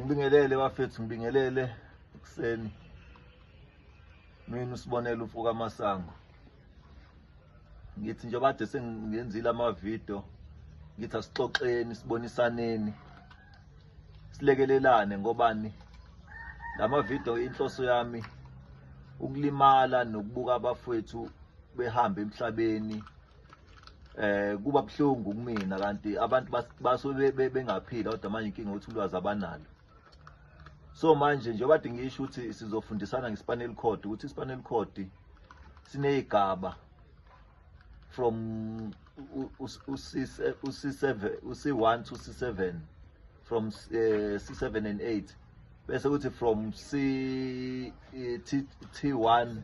ngibingelele bafethu ngibingelele ekuseni mina usibonela umfo kamasango ngithi njengoba kade sengenzile amavidiyo ngithi asixoxeni sibonisaneni silekelelane ngobani la mavidiyo inhloso yami ukulimala nokubuka abafowethu behamba emhlabeni eh kuba buhlungu kumina kanti abantu basuke bengaphila kodwa manje inkinga ukuthi ulwazi abanalo so manje nje obade ngisho ukuthi sizofundisana ngeSpanel Code ukuthi iSpanel Code sineyigaba from uC7 uC1 to C7 from eh, C7 and 8 bese kuthi from C eh, T1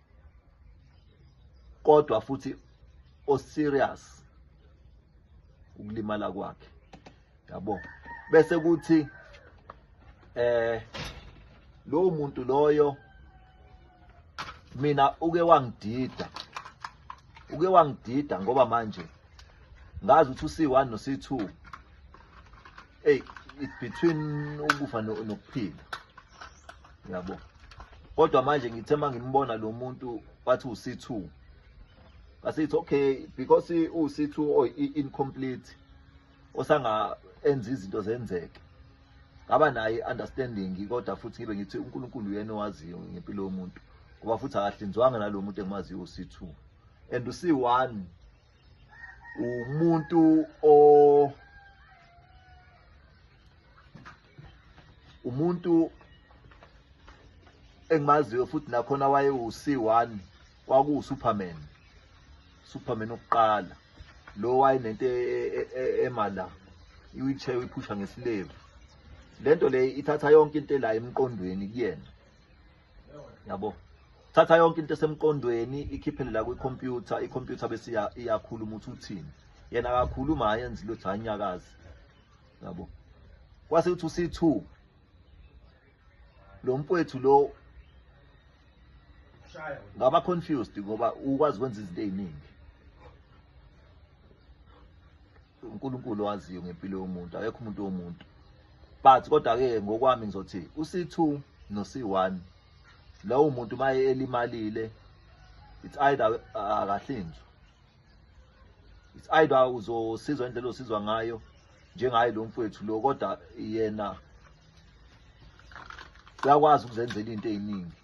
kodwa futhi o serious ukulimala kwakhe yabo bese kuthi eh lo muntu loyo mina uke wangidida uke wangidida ngoba manje ngazi ukuthi usiwani nosi2 Hey, it between ukufa nokuphila. Yabo. Kodwa manje ngithe mangimbona lo muntu wathi uC2. Asithi okay because uC2 or incomplete osanga enza izinto zenzeke. Ngaba naye understanding kodwa futhi ngibe ngithi uNkulunkulu uyena owaziyo ngempilo yomuntu. Ngoba futhi akahlinzwanga nalomuntu engimaziyo uC2. And uC1 umuntu o umuntu engimaziyo futhi nakhona waye uC1 kwaku Superman Superman oqala lo waye nento emala iwheelchair uyiphusha ngesilevu lento le ithatha yonke into la emqondweni kuyena yabo thatha yonke into esemqondweni ikhiphele la kwikhompyutha ikhompyutha bese iyakhuluma ukuthi uthini yena akakhuluma ayenzi lutho anyakazi yabo kwase ukuthi usi2 lo mfowethu lo ngaba confused ngoba ukwazi ukwenza izinto eziningi uNkulunkulu waziyo ngempilo yomuntu akekho umuntu womuntu but kodwa ke ngokwami ngizothi uC2 noC1 lowo muntu maye elimalile it's either akahlinzwa it's either uzosizwa indlela osizwa ngayo njengaye lo mfowethu lo kodwa yena uyakwazi ukuzenzela into eziningi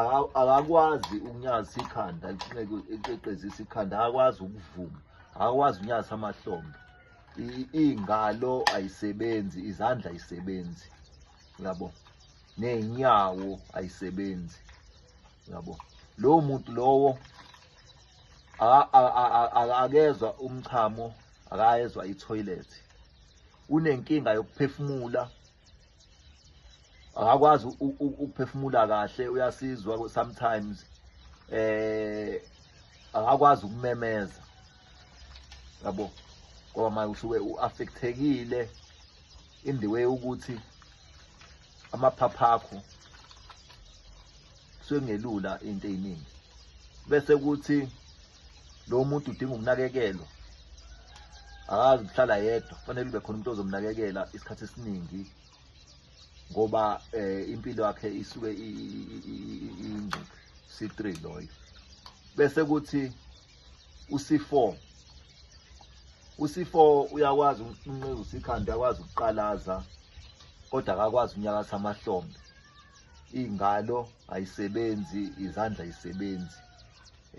Aka- akakwazi ukunyaza ikhanda lifuneke eqeqezisa ikhanda akakwazi ukuvuma akakwazi ukunyaza amahlombe I- ingalo ayisebenzi izandla ayisebenzi yabo ney'nyawo ayisebenzi yabo lowo muntu lowo a- a- a- a- a- akezwa umchamo akayezwa ithoyilethi unenkinga yokuphefumula akakwazi ukuphefumula kahle uyasizwa sometimes eh akakwazi ukumemeza yabo ngoba manje usuke uaffectekile in the way ukuthi amaphapha akho kusuke kungelula into eziningi bese kuthi lo muntu udinga ukunakekelwa akazi ukuhlala yedwa kufanele kube khona umuntu ozomnakekela isikhathi esiningi ngoba eh, impilo yakhe isuke ingcuphe c3 loyo bese kuthi uc4 uc4 uyakwazi ukunqeza usikhanda uyakwazi ukuqalaza kodwa akakwazi unyakasa amahlombe ingalo ayisebenzi izandla isebenzi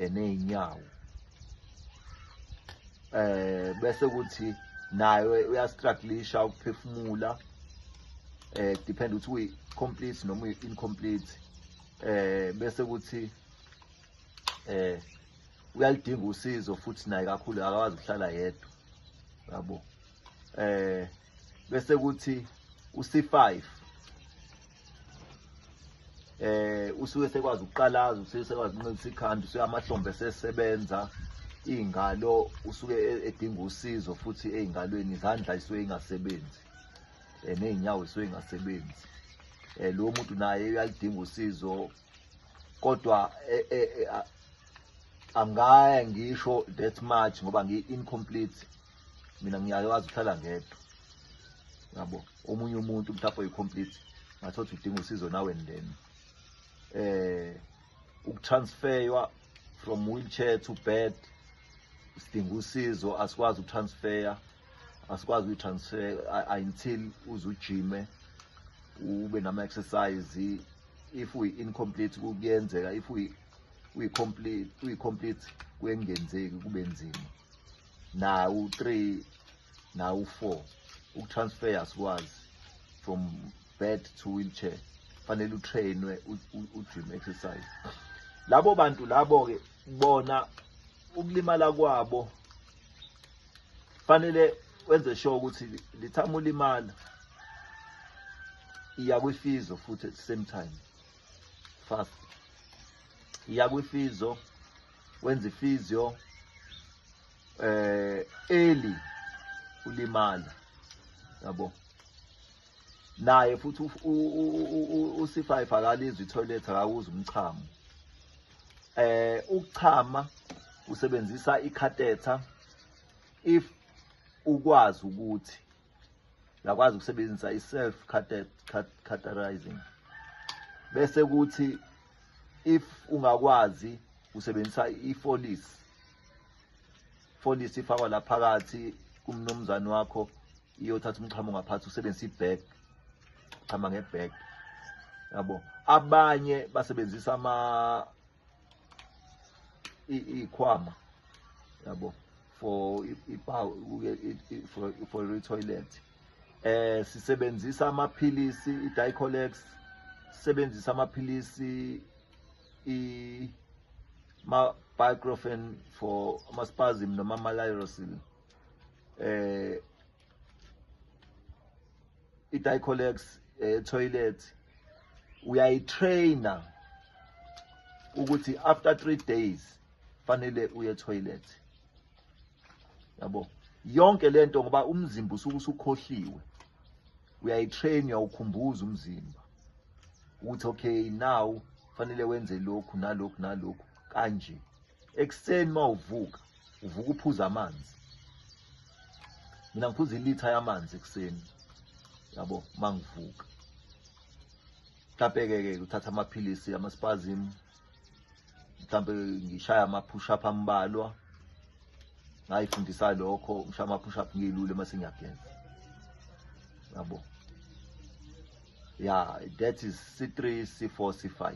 eneyinyawo eh bese kuthi nayo uyastrugglisha ukuphefumula eh depend ukuthi uyi complete noma uyi incomplete eh bese kuthi eh uyalidinga usizo futhi naye kakhulu akakwazi ukuhlala yedwa yabo eh bese kuthi uc5 eh usuke sekwazi ukuqalaza usuke sekwazi ukunqinisa ikhanda usuke amahlombe sesebenza ingalo usuke e-, edinga usizo futhi eingalweni izandla isuke ingasebenzi eh, nezinyawo isuke ingasebenzi eh lo muntu naye uyalidinga usizo kodwa eh, eh, eh, angaya ngisho that much ngoba ngi incomplete mina ngiyake wazi uhlala ngedwa yabo omunye umuntu mhlawumbe oyi-complete ngathothi udinga usizo nawe ndeni eh ukutransferwa from wheelchair to bed sidinga usizo asikwazi ukutransfera asikwazi ukuyi-transfer until uze ujime ube nama-exercise if uyi-incomplete kuyenzeka if uyi-complete kuyengenzeki kube nzima nawu 3 nawu 4 ukutransfer asikwazi from bed to wheelchair fanele utrainwe ugym exercise labo bantu labo ke bona ukulimala kwabo fanele wenze sure ukuthi lithama ulimala iya kwifizo futhi at the same time fast iya kwifizo wenza ifizyo eh eli ulimala yabo naye futhi usifa ifakala izwi toilet akawuza umchamo eh ukuchama usebenzisa ikhatetha if ukwazi ukuthi ngakwazi ukusebenzisa i-self categorizing bese kuthi if ungakwazi usebenzisa i-folis folis ifakwa la phakathi kumnumzane wakho iyothatha umchamo ngaphansi usebenzisa i-bag chama nge-bag yabo abanye basebenzisa ama ikhwama yabo for ipower for for toilet eh sisebenzisa amaphilisi iDicolex sisebenzisa amaphilisi i ma baclofen for amaspasm noma malyrosine eh i-dicolex eh, toilet uyayitraina ukuthi after three days fanele uye toilet yabo yonke lento ngoba umzimba usuke usukhohliwe uyayitrain uyawukhumbuza umzimba ukuthi okay now fanele wenze lokhu nalokhu nalokhu kanje ekuseni mawuvuka uvuka uphuza amanzi mina ngiphuza ilitha yamanzi ekuseni yabo mangivuka mhlawumbe ke ke uthatha amaphilisi amaspazim mhlawumbe ngishaya ama push up ambalwa ngayifundisa lokho ngishaya ama push up ngiyilule mase ngiyagenza yabo yeah that is c3 c4 c5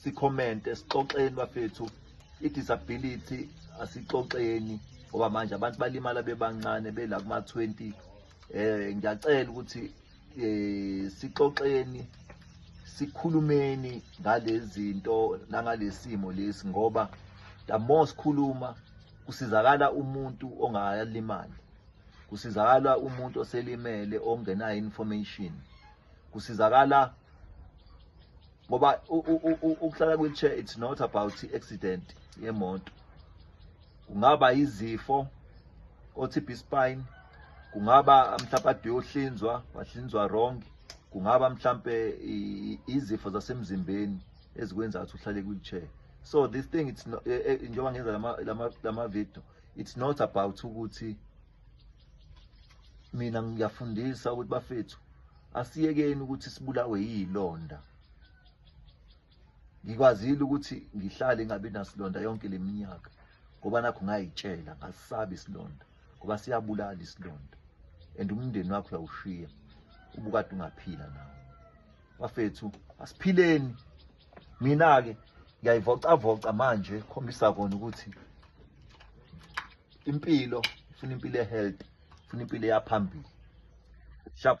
sikhomente sixoxeni bafethu i-disability asixoxeni ngoba manje abantu balimala bebancane bela kuma-twenty um ngiyacela ukuthi um sixoxeni sikhulumeni ngalezi zinto nangalesi simo lesi ngoba the more sikhuluma kusizakala umuntu ongalimali kusizakala umuntu oselimele ongenayo information kusizakala ngoba ukuhlala kwi-chair it's not about i-accident yemoto kungaba izifo o-tb spine kungaba mhlawumpe ade yohlinzwa wahlinzwa wrong kungaba mhlawumpe izifo zasemzimbeni ezikwenza ukuthi uhlale kwi-chair so this thing it's eh, eh, njengoba ngenza lama-video it's not about ukuthi mina ngiyafundisa ukuthi bafethu asiyekeni ukuthi sibulawe yilonda ngikwazile ukuthi ngihlale ngabe nasilonda yonke leminyaka ngoba nakho ngayitshela ngasabi isilonda ngoba siyabulala isilonda and umndeni wakho uyawushiya ubukade ungaphila nawo bafethu asiphileni mina ke ngiyayivocavoca manje khombisa kona ukuthi impilo funa impilo ehealthy funa impilo eyaphambili shap